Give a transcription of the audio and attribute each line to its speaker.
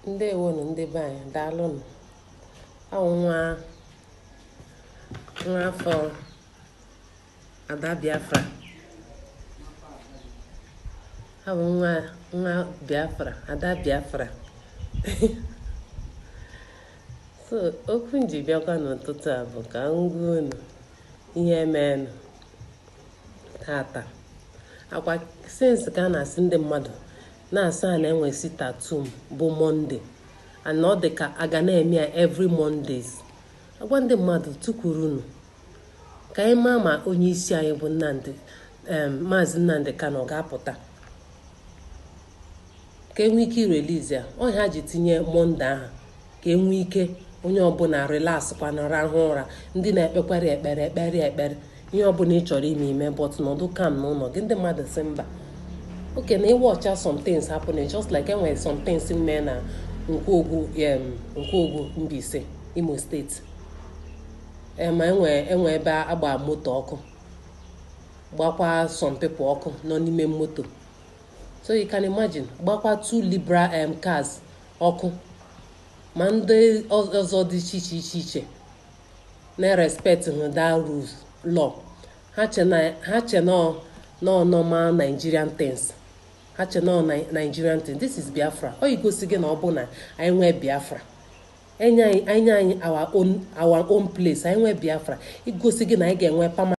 Speaker 1: ndewonu ndị be anyị daalụnụ ọ nwa nwa afọ ada biafra ọ bụ nwa nwa biafra ada biafra so okwu m ji bịakwa n'ụtụtụ a bụ ka m gwa unu ihe meenụ tata akwa since ka a na-asị ndị mmadụ na-asị a na-enwe sit at home bụ monday and ọ dị ka a ga na-eme ya every mondays a gwa ndị mmadụ tukwurunu ka anyị maa ma onye isi anyị bụ nnamdi maazị nnamdi kanu ọ ga-apụta ka e nwee ike irelease ya ọ ha ji tinye monday ahụ ka e nwee ike onye ọbụla relax kwanụ rahụ ụra ndị na-ekpekwara ekpere ekpere ekpere ihe ọbụla ị chọrọ ime i mee but nọdụ calm na ụlọ gị ndị mmadụ sị mba okay na ị watch some things happening just like e nwere some things mere na nkwogwu nkwogwu Mbaise Imo state ma enwe enwe ebe a gba moto ọkụ gbakwa some people ọkụ nọ n'ime moto so you can imagine gbakwa two Libra um, cars ọkụ ma ndị ọzọ dị iche iche iche iche na-respect hụ that rules law ha che na ọ normal Nigerian things ha che na ọ Nigerian things this is Biafra ọ igosi gị na ọ bụ na anyị nwee Biafra e nye anyị our own place anyị nwee Biafra igosi gị na anyị ga-enwe permanent